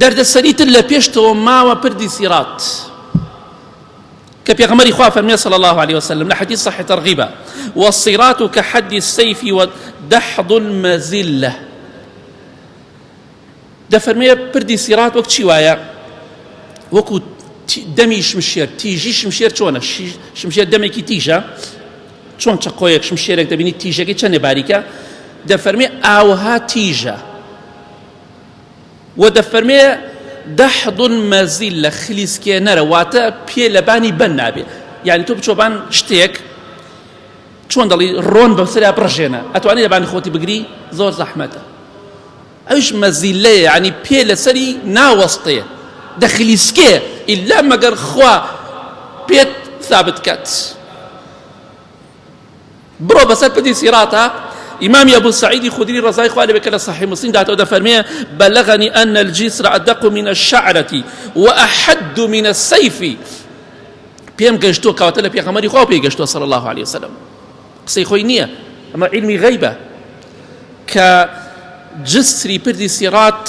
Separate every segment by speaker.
Speaker 1: دەردەسەری تر لە پێشتەوە ماوە پردی سیڕات کە پێغەمبەری خوا فەرمی صلی الله علیه وسلم لە حدیث صحیح ترغیبە والصراط كحد السيف ودحض المزله دەفەرمێ پردی سیڕات وەک چی وایە وەکو دەمی شمشێر تیژی شمشێر چۆنە شمشێر دەمێکی تیژە چۆن چقۆیەک شمشێرێک دەبینی تیژەکەی چەندێ باریکە دەفەرمێ ئاوها تیژە وە دەفەرمێ دەحدن مەزیلە خلیسکێنەرە واتە پێ لەبانی بەن نابێ یعنی تۆ بچۆبان شتێک چۆن دەڵی ڕۆن بەسرا بڕژێنە ئەتوانی لەبانی خۆتی بگری زۆر زەحمەتە ئەوش مەزیلەیە ینی پێ لەسەری ناوەستێ دەخلیسکێ ئللا مەگەر خوا پێت ثابت کات بڕۆ بەسەر پردی سیڕاتا ئیمامی ئەبو سعیدی خودری ڕزای خوارێ بێ کە لە صحیح مسلم داتەوە دەفەرمێ بەلغنی ئەن الجسر أدق من الشعرة وأحد من السيف پێم گەشتووە کەواتە لە پێغەمەری خوا پێی گەشتووە صلی الله عليه وسلم قسەی خۆی نییە ئەمە علمی غیبە کە جسری پردی سیڕات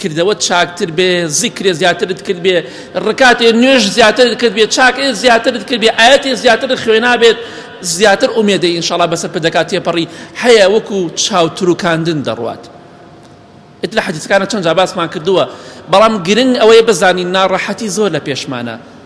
Speaker 1: کردەوەت چاکتر بێ زیکرێ زیاترت کرد بێ ڕکاتێ نوێژ زیاترت کرد بێ چاکێ زیاترت کرد بێ ئاەتێ زیاتر خوێنابێت زیاتر ئومێدە ئینشاڵا بەسەر پدەکات تێپەڕی هەیە وەکو چاوتروکاندن دەڕوات ئت لە حەدیثەکانە چەند جا باسمان کردووە بەڵام گرنگ ئەوەیە بزانین ناڕەحەتی زۆر لە پێشمانە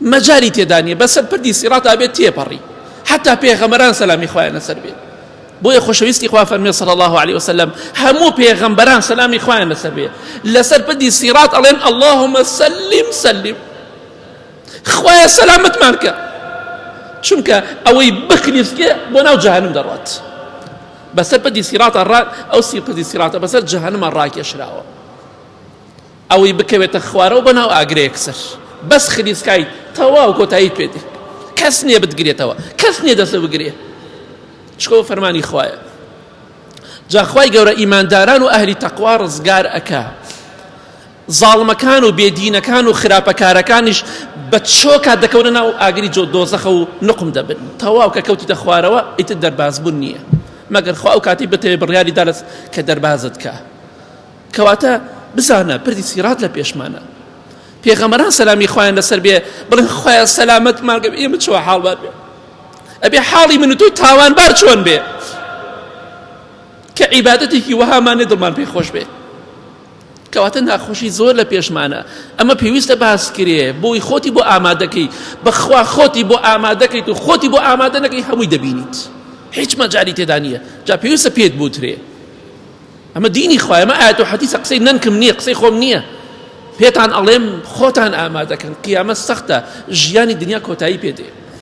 Speaker 1: مەجالی تێدا نیە بەسەر پردی سیڕاتا بێت تێپەڕی حتا پێغەمەران سەلامی خوایان لەسەر بێت بۆیە خۆشەویستی خوا فەرمێ صلی الله عليه وسلم هەموو پێغەمبەران سەلامی خوایان لەسەر بێت لەسەر پردی سیڕات ئەڵێن اللهم سلم سلم خوایە سەلامەتمان کە چونکە ئەوەی بخلیسکێ بۆ ناو جەهنم دەڕات بەسەر پردی سیڕاتە ڕات ئەو سی پردی سیڕاتە بەسەر جەهنمە ڕاکێشراوە ئەوەی بکەوێتە خوارەوە بە ناو ئاگرە یەکسەر بەس خلیسکای تەواو کۆتایی پێ دێ کەس نییە بتگرێتەوە کەس نییە دەستە بگرێ چکەوە فەرمانی خوایە جاخوای گەورە ئیمانداران و ئەهلی تەقوا ڕزگار ئەکا زاڵمەکان و بێدینەکان و خراپەکارەکانیش بە چۆکا دەکەونە ناو ئاگری جۆ دۆزەخە و نقم دەبن تەواو کە کەوتیتە خوارەوە ئیتر دەربازبوون نییە مەگەر خوا ئەو کاتی بتەوێ بڕیاری دالس کە دەربازت کە کەواتە بزانە پردی سیرات لە پێشمانە پێغەمەران سەلامی خۆیان لەسەر بێ بڵێن خۆیان سەلامەت ماگەم ئێمە چوە حاڵبار بێ ئەبێ حاڵی من و تۆی تاوانبار چۆن بێ کە عیبادەتێکی وەهامانێ دڵمان پێ خۆش بێ کەواتە ناخۆشی زۆر لە پێشمانە ئەمە پێویستە باس کرێ بۆی خۆتی بۆ ئامادەکەی بەخوا خۆتی بۆ ئامادەکەیت و خۆتی بۆ ئامادە نەکەی هەمووی دەبینیت هیچ مەجاری تێدا نییە جا پێویستە پێت بوترێ ئەمە دینی خوایە ئەمە ئایەت و حەدیسە قسەی نەنکم نییە قسەی خۆم نییە پێتان ئەڵێم خۆتان ئامادەکەن قیامەت سەختە ژیانی دنیا کۆتایی پێدێ